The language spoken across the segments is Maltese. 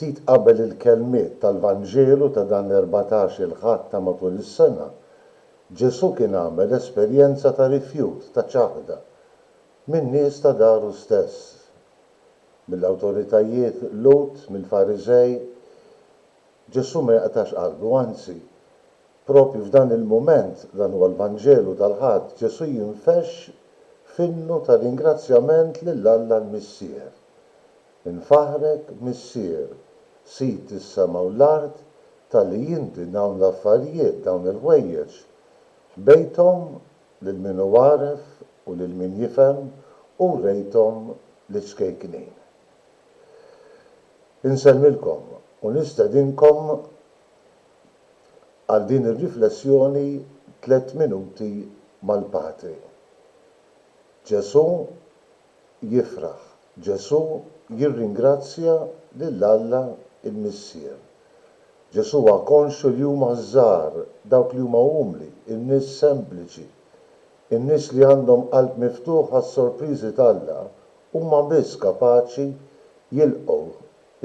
Ftit qabel il-kelmiet tal-Vanġelu ta' dan l-erbatax il-Ħadd ta' matul is-sena, Ġesù kien għamel esperjenza ta' rifjut, ta' ċaħda, min-nies ta' daru stess, mill-awtoritajiet Lhud, mill-Fariżej, Ġesù ma jaqtax qalbu, anzi, proprju f'dan il-mument, dan huwa l-Vanġelu tal-Ħadd, Ġesù jinfexx f'innu ta' ringrazzjament lil Alla l-Missier. Infaħħrek, Missier, Sid is-sema u l-art, talli inti dawn l-affarijiet, dawn il-ħwejjeġ, ħbejthom lil min hu għaref u lil min jifhem u wrejthom liċ-ċkejknin. Insellmilkom u nistedinkom għal din ir-riflessjoni Tliet Minuti mal-Patri. Ġesù jifraħ, Ġesù jirringrazzja lil Alla l-Missier. Ġesù huwa konxju li huma ż-żgħar, dawk li huma umli, in-nies sempliċi, in-nies li għandhom qalb miftuħ għas-sorpriżi t'Alla Huma biss kapaċi jilqgħu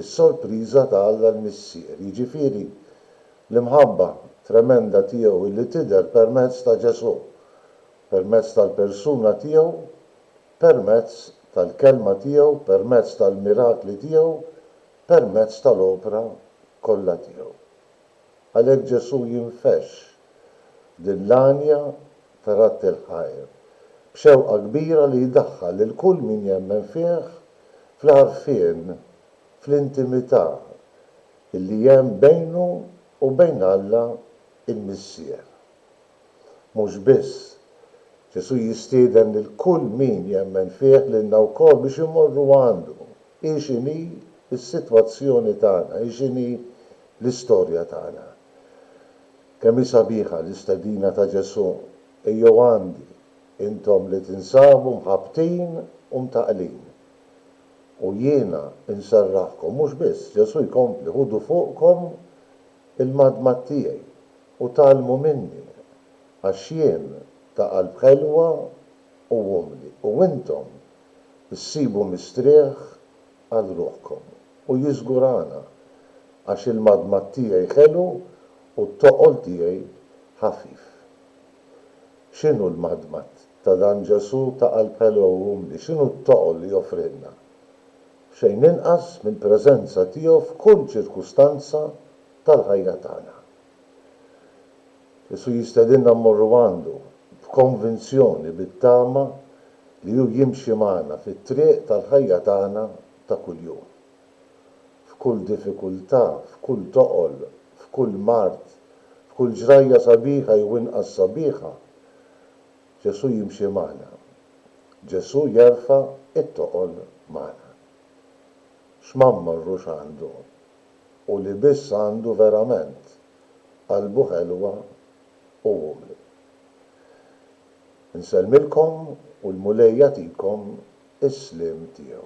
s-sorpriża ta' Alla l-Missier, jiġifieri l-imħabba tremenda tiegħu li tidher permezz ta' Ġesù, permezz tal-persuna tiegħu, permezz tal-kelma tiegħu, permezz tal-mirakli tiegħu, permezz tal-opra kollha tiegħu. Għalhekk Ġesù jinfexx din l-għanja ta' Ratti l-Ħajr b'xewqa kbira li jdaħħal lil kull min jemmen fih fl-għarfien, fl-intimità li hemm bejnu u bejn Alla l-Missier. Mhux biss, Ġesù jistieden lil kull min jemmen fih, lilna wkoll, biex immorru għandu, hi x'inhi s-sitwazzjoni tagħna, hi x'inhi l-istorja tagħna. Kemm hi sabiħa l-istedina ta' Ġesù, Ejjew għandi, intom li tinsabu mħabbtin u mtaqqlin, u jiena nserraħkom. Mhux biss, Ġesù jkompli, Ħudu fuqkom il-madmad tiegħi. u tgħallmu minni, għax jien ta' qalb ħelwa u umli, u intom issibu mistrieħ għal ruħkom. U jiżgurana, għax il-madmad tiegħi ħelu u t-toqol tiegħi ħafif. X'inhu l-madmad ta' dan Ġesù ta' qalb ħelwa u umli? X'inhu t-toqol li joffrilna? Xejn inqas mill-preżenza tiegħu f'kull ċirkustanza tal-ħajja tagħna. Ġesù jistedinna mmorru għandu, b'konvinzjoni, bit-tama li hu jimxi magħna fit-triq tal-ħajja tagħna ta' kuljum. F'kull diffikultà, f'kull toqol, f'kull mard, f'kull ġrajja sabiħa jew inqas sabiħa, Ġesù jimxi magħna. Ġesù jerfa' t-toqol magħna. X'ma mmorrux għandu u li biss għandu verament qalbu ħelwa u umli. Insellmilkom u l-Mulej jagħtikom is-sliem tiegħu.